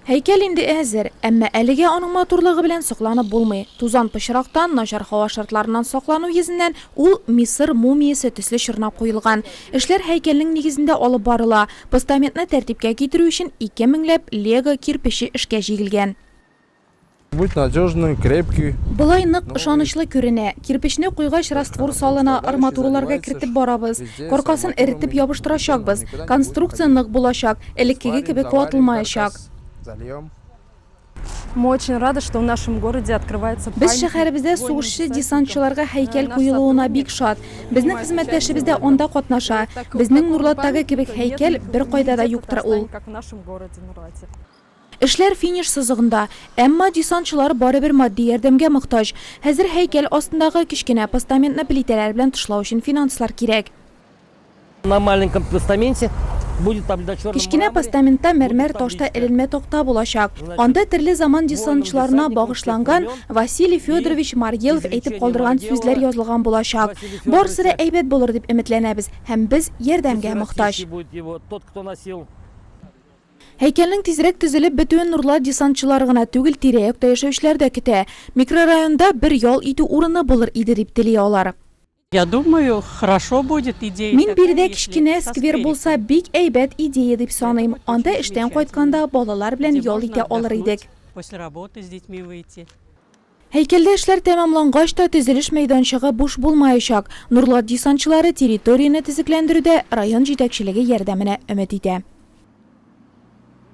Һәйкәл инде әзер, әмма әлегә аның матурлыгы белән сокланып булмый. Тузан пычрактан, начар һава шартларыннан саклану йөзеннән, ул Мисыр мумиясе төсле чорнап куелган. Эшләр һәйкәлнең нигезендә алып барыла. Постаментны тәртипкә китерү өчен ике меңләп лего кирпече эшкә җигелгән. Будь надежным, крепкий. Болай нык, ышанычлы күренә. Кирпечне куйгач, раствор салына, арматураларга кертеп барабыз. Коркасын эретеп ябыштырачакбыз. Конструкция нык булачак, элеккеге кебек ватылмаячак. Мы очень рады, что в нашем городе открывается памятник. Без шәһәребездә сугышчы-десантчыларга һәйкәл куелуына бик шат. Безнең хезмәттәшебез дә анда катнаша. Безнең Нурлаттагы кебек һәйкәл беркайда да юктыр ул. Эшләр финиш сызыгында. Әмма десантчылар барыбер матди ярдәмгә мохтаҗ. Хәзер һәйкәл астындагы кечкенә постаментны плитәләр белән тышлау өчен финанслар кирәк. На маленьком постаменте будет победа черном мраморе. Кечкенә постаментта мәрмәр ташта эленмә такта булачак. Анда төрле заман десантчыларына багышланган Василий Федорович Маргелов әйтеп калдырган сүзләр язылган булачак. Барысы да әйбәт булыр дип өметләнәбез һәм без ярдәмгә мохтаҗ. Һәйкәлнең тизрәк төзелеп бетүен Нурлат десантчылары гына түгел, тирә-якта яшәүчеләр дә көтә. Микрорайонда бер ял итү урыны булыр иде, дип тели алар. Я думаю, хорошо будет идея такая, если со сквером. Мин биредә кечкенә сквер булса, бик әйбәт идея дип саныйм. Анда эштән кайтканда балалар белән ял итә алыр идек. Һәйкәлдә эшләр тәмамлангач та төзелеш мәйданчыгы буш булмаячак. Нурлат десантчылары территорияне төзекләндерүдә район җитәкчелеге ярдәменә өмет итә.